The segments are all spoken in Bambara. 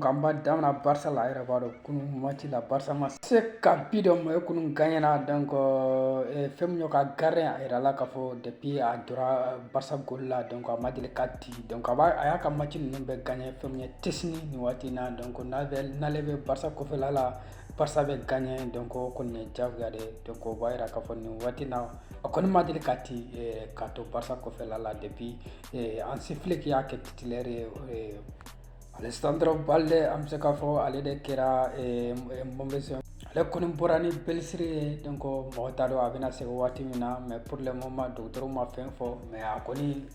an b'a daminɛ Barça la a yɛrɛ b'a dɔn kunun match la Barça ma se ka bi don mais o kɔni gagnena donc fɛn min y'o ka gardien a yirala k'a fɔ depuis a jɔra Barça goal la donc a ma deli ka di donc a b'a a y'a ka match ninnu bɛɛ gagné fɛn min ye Szczesny nin waati in na donc n'a bɛ n'ale bɛ Barça kɔfɛla la Barça bɛ gagné donc o kɔni jagoya de donc o b'a jira k'a fɔ nin waati na a kɔni ma deli ka di ka to Barça kɔfɛla la depuis Hansi Flick y'a kɛ titulaire ye Alejandro Balde an bɛ se k'a fɔ ale de kɛra mauvaise ale kɔni bɔra ni blessure ye donc mɔgɔ t'a dɔn a bɛna segin waati min na mais pour le moment dɔgɔtɔrɔw ma fɛn fɔ mais a kɔni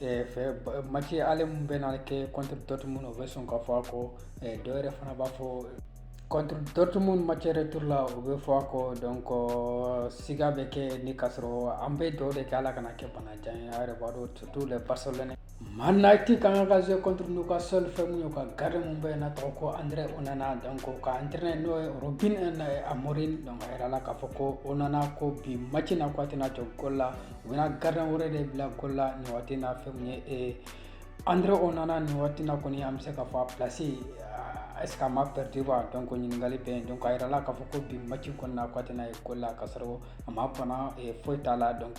match ale min bɛna kɛ contre Dortmund o bɛ sɔn ka fɔ a kɔ dɔw yɛrɛ fana b'a fɔ contre Dortmund match retour la o bɛ fɔ a kɔ donc siga bɛ kɛ ni k k'a sɔrɔ an bɛ duwa de kɛ ala kana kɛ banajan ye a yɛrɛ b'a dɔn surtout les Barcelonais Man United ka kan ka jouer contre Newcastle fɛn min y'o ka gardien min bɛ yen n'a tɔgɔ ko André Onana donc o ka entraîneur n'o ye Ruben Amorim donc a yirala k'a fɔ ko Onana ko bi match in na ko a tɛna jɔ goal la u bɛna gardien wɛrɛ de bila goal la nin waati na fɛn ye ee André Onana nin waati na kɔni an bɛ se k'a fɔ place est-ce que a ma perdu wa donc ɲininkali bɛ yen donc a jirala k'a fɔ ko bi match kɔnɔna na ko a tɛna ye goal la k'a sɔrɔ a ma bana foyi t'a la donc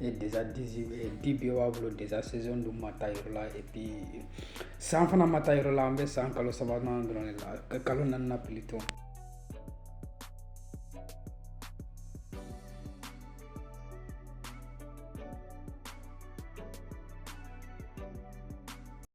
et déjà dix e dix buts b'a bolo déjà saison dun ma taa yɔrɔ la et puis san fana ma taa yɔrɔ la an bɛ san kalo sabanan dɔrɔn de la ka kalo naaninan plutôt